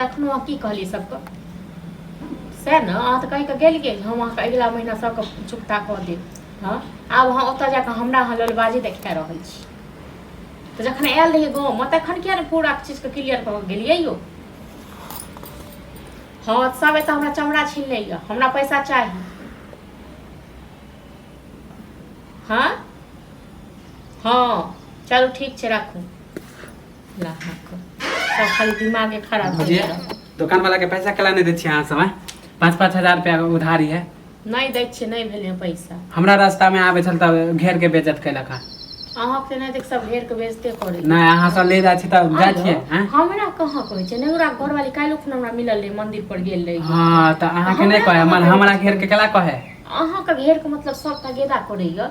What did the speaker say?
एखनो अहाँ की कहलियै सबके सएह ने अहाँ तऽ कहि कऽ गेलियै जे हम अहाँके अगिला महीना सबके चुकता कऽ देब हँ आब अहाँ ओतऽ जाकऽ हमरा अहाँ ललबाजी देखा रहल छी तऽ जखन आयल रहियै गाँवमे तखन किया ने पूरा चीजके क्लियर कऽ गेलियै यौ हँ सब एतऽ हमरा चमड़ा छीन लैया हमरा पैसा चाही हँ हँ चलू ठीक छै राखू ला हक सब खाली दिमागे खराब कर भजिया देलक। दुकान वाला के पैसा कला नहीं दे छियै अहाँ सब हैं? पाँच पाँच हजार रुपया के उधारी है नहि दै छियै नहि भेलै पैसा हमरा रास्ता में आबे छल तब घेर के बेजत कैलक हँ अहाँके नहि देख सब घेर के बेचते करै नहीं अहाँ सब ले जाइ छी तब जाइ छियै हैं? हमरा कहाँ कहै छै नेउरा घरवाली काल्हि खुन हमरा मिलल रहै मंदिर पर गेल रही हाँ तो अहाँ के नहीं कहे मन हमरा घेर के कला कहे अहाँके घेर के मतलब सबटा गेदा करैया